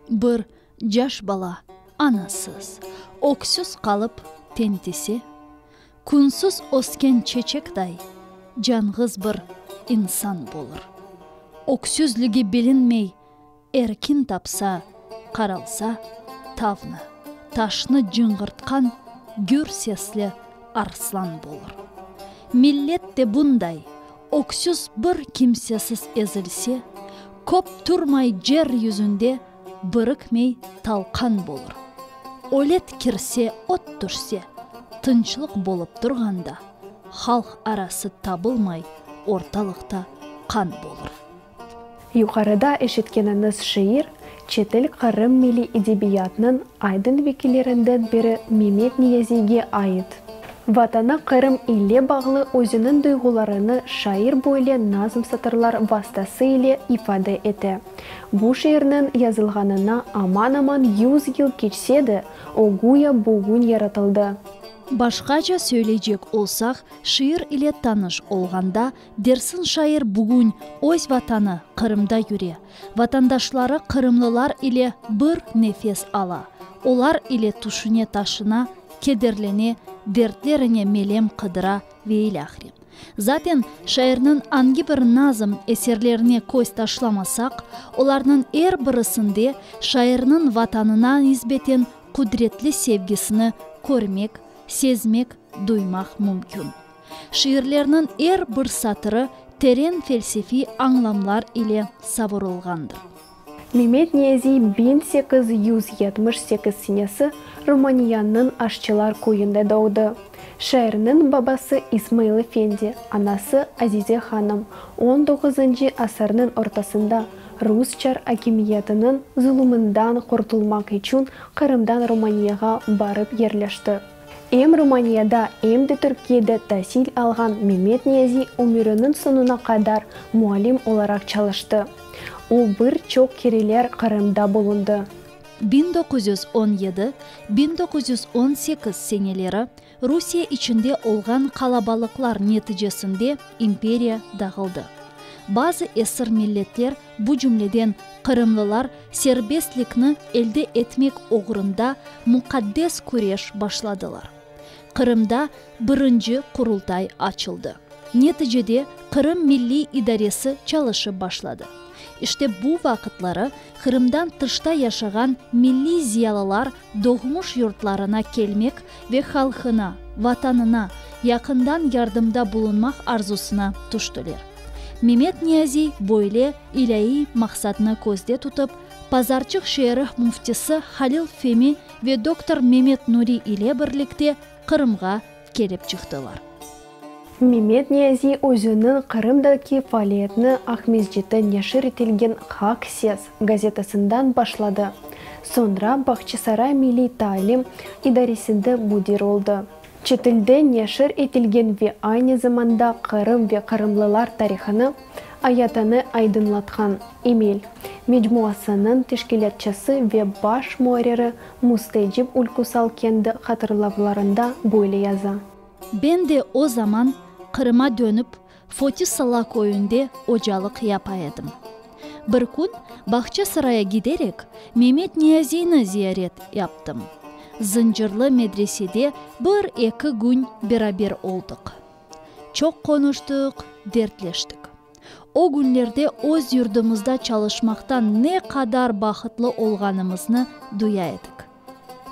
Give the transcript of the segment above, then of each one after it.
Bir caş bala anasız, öksüz qalıp tentise, Künsüz ösken çeçekday canğız bir insan bolır. Öksüzligi bilinmey Erkin tapsa, qaralsa, tavnı, taşnı cıñğırtqan gür sesli arslan bolur. Millet de bunday, öksüz bir kimsesiz ezilse, köp turmay jer yüzünde birikmey talqan bolur. Ölet kirse, öt tüşse, tınçlıq bolıp turğanda, halq arası tabılmay ortalıqta qan bolur. Yuqarıda eşitkeniñiz şiir, çetil Qırım milliy edebiyatnıñ aydın vekillerinden biri Memet Niyaziyge ait. Vatanı Qırım ile bağlı özüniñ duyğularını şair böyle nazm satırlar vastası ile ifade ete. Bu şiirniñ yazılğanına aman-aman yüz yıl keçse de, o güya bugün yaratıldı. Başqaça söyleycek olsaq, şiir ile tanış olğanda, Dersin şair bugün öz Vatanı Qırımda yüre, vatandaşları qırımlılar ile bir nefes ala, olar ile tüşüne-taşına, kederlene, dertlerine melem qıdıra ve ilâhre. Zaten, şairniñ angi bir nazm eserlerine köz taşlamasaq, olarnıñ er birisinde şairniñ Vatanına nisbeten qudretli sevgisini körmek, sezmek, duymaq mümkün. Şiirlerniñ er bir satırı teren felsefiy añlamlar ile savurılğandır. Memet Niyaziy biñ sekiz yüz yetmiş sekiz senesi Rumaniyanıñ Aşçılar köyünde doğdı. Şairniñ babası İsmail efendi, anası Azize hanım on doğuzıncı asırnıñ ortasında rus çar akimiyetiniñ zulumından qurtulmaq içün Qırımdan Rumaniyağa barıp yerleşti. Em Rumaniyada, em de Türkiyede tasil alğan Memet Niyazi ömüriniñ soñuna qadar muallim olaraq çalıştı. O, bir çoq kereler Qırımda bulundı. Biñ doquz yüz on yedi, biñ doquz yüz on sekiz seneleri Rusiye içinde olğan qalabalıqlar neticesinde imperiya dağıldı. Bazı esir milletler bu cümleden qırımlılar serbestlikni elde etmek oğrunda muqaddes küreş başladılar. Qırımda birinci Qurultay açıldı. Neticede Qırım Milliy İdaresi çalışıp başladı. İşte bu vaqıtları Qırımdan tışta yaşağan milliy ziyalılar Doğmuş yurtlarına kelmek ve halqına, Vatanına yaqından yardımda bulunmaq arzusına tüştiler. Memet Niyaziy böyle ilâiy maqsadnı közde tutıp, Pazarçıq şeerih müftisi Halil Femi ve doktor Memet Nuri ile birlikte Qırımğa kelip çıqtılar. Memet Niyazi özüniñ Qırımdaki faaliyetini Aqmescitten neşir etilgen Haq ses gazetasından başladı, soñra Bağçasaray milliy taalim idaresinde müdir oldı. Çetilde neşir etilgen ve aynı zamanda Qırım ve qırımlılar tarihını, ayatını aydınlatqan Emel mecmuasınıñ teşkilâtçısı ve baş muarriri Müstecip Ülküsal kendi hatırlavlarında böyle yaza. Ben de o zaman Qırıma dönip, Fotisala köyünde ocalıq yapa edim. Bir kün Bağçasaraya giderek, Memet Niyaziyni ziyaret yaptım. Zıncırlı medresede bir-eki kün beraber oldıq. Çoq qonuştıq, dertleştik. O günlerde öz yurdumızda çalışmaqtan ne qadar bahıtlı olğanımıznı duya edik.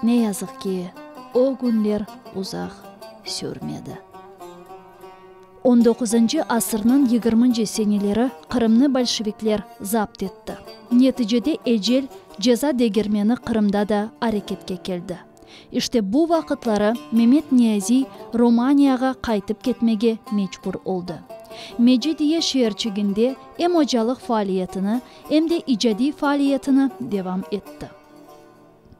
Ne yazıq ki, o günler uzaq sürmedi. On doquzıncı asırnıñ yigirminci seneleri Qırımnı bolşevikler zapt etti. Neticede ecel ceza degermeni Qırımda da areketke keldi. İşte bu vaqıtları Memet Niyaziy Romaniyağa qaytıp ketmege mecbur oldı. Mecidiye şeerçiginde em ocalıq faaliyetini, em de icadiy faaliyetini devam etti.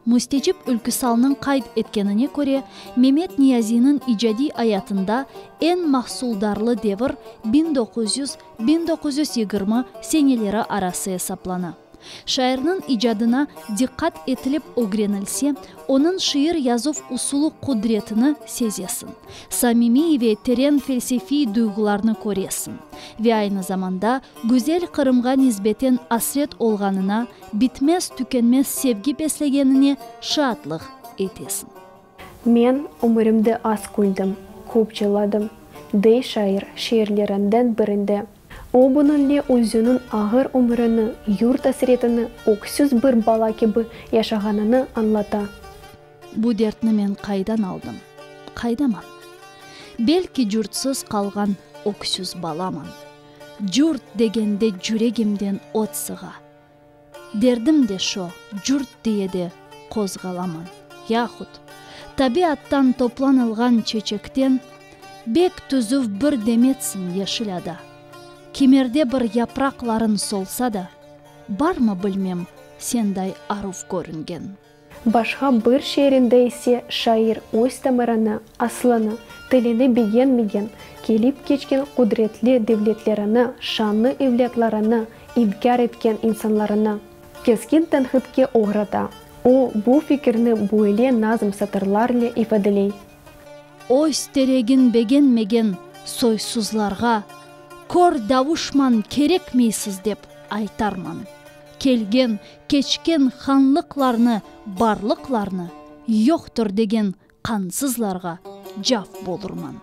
Müstecip Ülküsalnıñ qayd etkenine köre, Memet Niyaziyniñ icadiy ayatında eñ mahsuldarlı devir biñ doquz yüz, biñ doquz yüz yigirmi seneleri arası esaplana. Şairniñ icadına diqqat etilip ögrenilse, onıñ şiir yazuv usulı qudretini sezesiñ, samimiy ve teren felsefiy duyğularnı köresiñ ve aynı zamanda güzel Qırımğa nisbeten asret olğanına, bitmez-tükenmez sevgi beslegenine şaatlıq etesiñ. Men ömürimde az küldim, köp cıladım, dey şair şiirlerinden birinde. O bunıñle özüniñ ağır ömürini, yurt asretini, öksüz bir bala kibi yaşağanını añlata. Bu dertni men qaydan aldım? Qaydaman? Belki curtsız qalğan öksüz balaman. Curt degende cüregimden ot sığa. Derdim de şo, curt diye de qozğalaman. Yahut, tabiattan toplanılğan çeçekten bek tüzüv bir demetsin yeşil ada, kimerde bir yapraqların solsa da, barmı bilmem senday aruv körüngen. Başqa bir şiirinde ise şair öz tamırını, asılını, tilini begenmegen, kelip keçken qudretli devletlerini, şanlı evlâtlarını inkâr etken insanlarını keskin tenqitke oğrata. O, bu fikirni böyle nazm satırlarle ifadeley. Öz teregin begenmegen soysuzlarğa, Kör davuşman kerekmeysiz dep aytarman. Kelgen, keçken hanlıqlarnı, barlıqlarnı, yoqtur degen qansızlarğa cavp bolurman.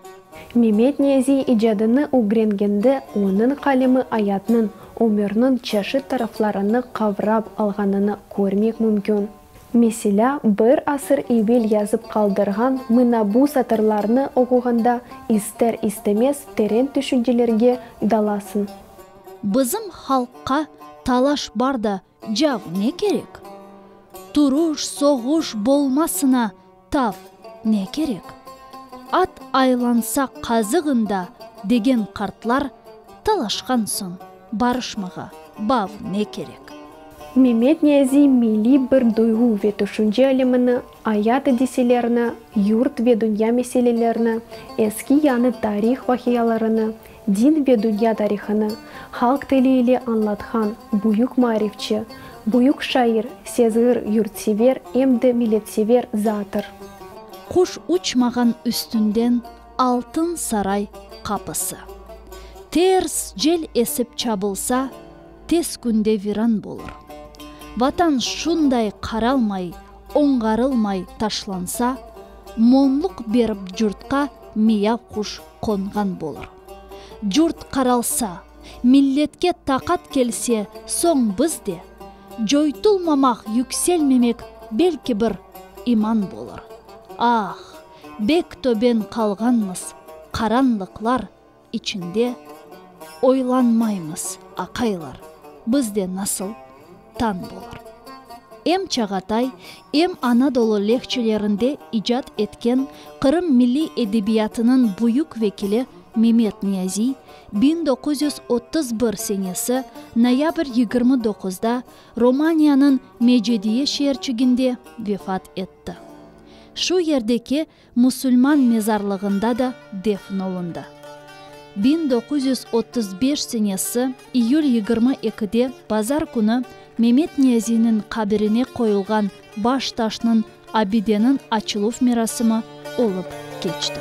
Memet Niyaziy icadını ögrengende onıñ qalemi ayatnıñ, ömürniñ çeşit taraflarını qavrap alğanını körmek mümkün. Meselâ, bir asır evel yazıp qaldırğan mına bu satırlarnı oquğanda ister-istemez teren tüşüncelerge dalasıñ. Bizim halqqa talaş bar da cav ne kerek? Turuş, soğuş bolmasına tav ne kerek? At aylansa qazığında degen qartlar talaşqan soñ barışmağa bav ne kerek? Memet Niyaziy milliy bir duyğu ve tüşünce alemini, ayat adiselerini, yurt ve dünya meselelerini, eski-yañı tarih vaqialarını, Din ve dünya tarihını halq tili ile añlatqan büyük maarifçi, büyük şair, sezgir, yurtsever, em de milletsever zattır. Quş uçmağan üstünden altın saray qapısı. Ters cel esip çabılsa, tez künde viran bolur. Vatan şunday qaralmay, oñğarılmay taşlansa, monluq berip curtqa miyav quş qonğan bolur. Curt qaralsa, milletke taqat kelse, soñ biz de, Coytulmamaq, yükselmemek, belki bir iman bolur. Ah, bek töben qalğanmız, qaranlıqlar içinde oylanmaymız, aqaylar, biz de nasıl? tañ bolur. Em Çağatay, em Anadolu lehçelerinde icat etken Qırım milliy edebiyatınıñ büyük vekili Memet Niyaziy, biñ doquz yüz otuz bir senesi noyabr yigirmi doquzda Romaniyanıñ Mecediye şeerçiginde vefat etti. Şu yerdeki musulman mezarlığında da defn olundı. Biñ doquz yüz otuz beş senesi iyül yigirmi ekide bazar künü Memet Niyaziyniñ qabirine qoyulğan baş taşnıñ abideniñ açıluv merasimi olıp keçti.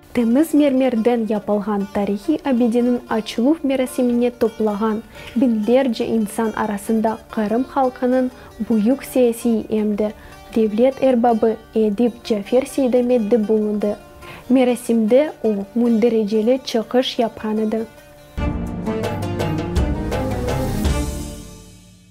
Temiz mermerden yapılğan tarihiy abideniñ açıluv merasimine toplağan biñlerce insan arasında Qırım halqınıñ büyük siyasiy em de devlet erbabı edip Cafer Seydamet de bulundı. Merasimde o, mündericeli çıqış yapqan edi.